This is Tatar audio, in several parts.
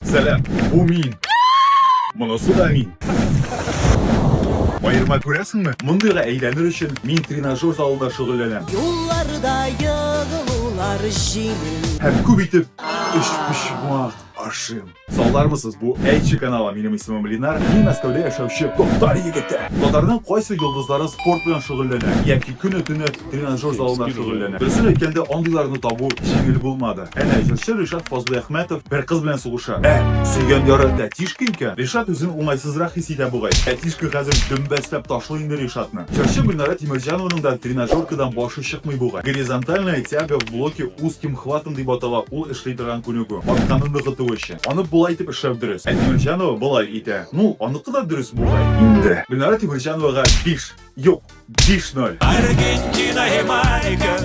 Сәлам, бу мин. Монысы да мин. Аерма күрәсеңме? Мондыйга әйләнер өчен мин тренажер залында шөгыльләнәм. Юлларда егылулар җиңел. Һәм күп итеп өчпочмак ашыйм. Салдармысыз, бу Әйтче каналы. Минем исемем Ленар, мин Мәскәүдә яшәүче татар егете. Татарның кайсы йолдызлары спорт белән шөгыльләнә яки көне-төне тренажер залына шөгыльләнә. Дөресен әйткәндә, андыйларны табу җиңел булмады. Әнә, җырчы Ришат Фазлыйәхмәтов бер кыз белән сугыша. Ә, сөйгән яры тәтишка икән! Ришат үзен уңайсызрак хис итә бугай. Тәтишка хәзер дөмбәсләп ташлый инде Ришатны. Җырчы Гөлнара Тимерҗанованың да тренажеркадан башы чыкмый бугай. Горизонтальная тяга в блоке узким хватом дип атала ул эшли торган күнегү, арканы ныгыту өчен. Аны болай итеп эшләү дөрес. Ә Тимерҗанова болай итә. Ну, аныкы да дөрес бугай. Инде. Гөлнара Тимерҗановага биш! Юк, 5-0. Аргентина, Ямайка,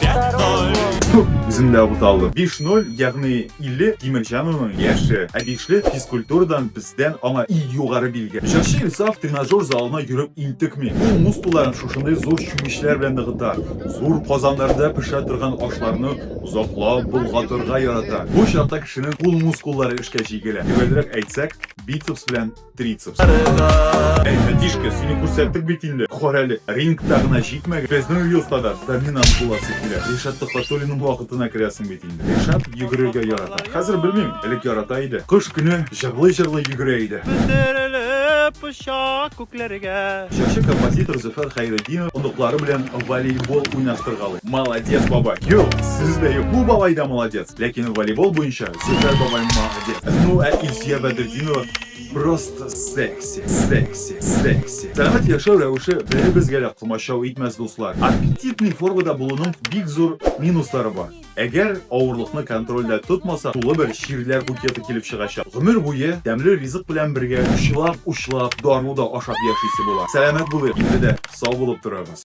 5-0. Үзем дә буталдым. 5-0, ягъни 50 Тимерҗановның яше. Ә бишле физкультурадан бездән аңа и югары билгә. Җырчы Илсаф тренажер залына йөреп интекми. Ул мускулларын шушындый зур чүмечләр белән ныгыта. Зур казаннарда пешә торган ашларны озаклап болгатырга ярата. Бу чакта кешенең кул мускуллары эшкә җигелә. Төгәлрәк әйтсәк, бицепс белән трицепс. Әй, братишка, сине күрсәттек бит инде. Кар әле, рингта гына җитмәгән. Безнең өй остада доминант буласы килә. Ришат Төхвәтуллинның вакытына керәсең бит инде. Ришат йөгерергә ярата. Хәзер белмим, элек ярата иде. Кыш көне җырлый-җырлый йөгерә иде. Күтәрелеп оча күкләргә. Җырчы композитор Зөфәр Хәйретдинов оныклары белән волейбол уйнаштыргалый. Молодец, бабай. Юк, сүз дә юк. Бу бабай да молодец. Ләкин волейбол буенча Зөфәр бабай молодец. Ну ә Илсөя Бәдретдинова просто секси, секси, секси. Сәгать яшәү рәвеше беребезгә дә комачау итмәс, дуслар. Аппетитный формада булуның бик зур минуслары бар. Әгәр авырлыкны контрольдә тотмаса, тулы бер чирләр букеты килеп чыгачак. Гомер буе тәмле ризык белән бергә учлап-учлап, дару да ашап яшисе була. Сәламәт булыйк, инде дә сау булып торабыз.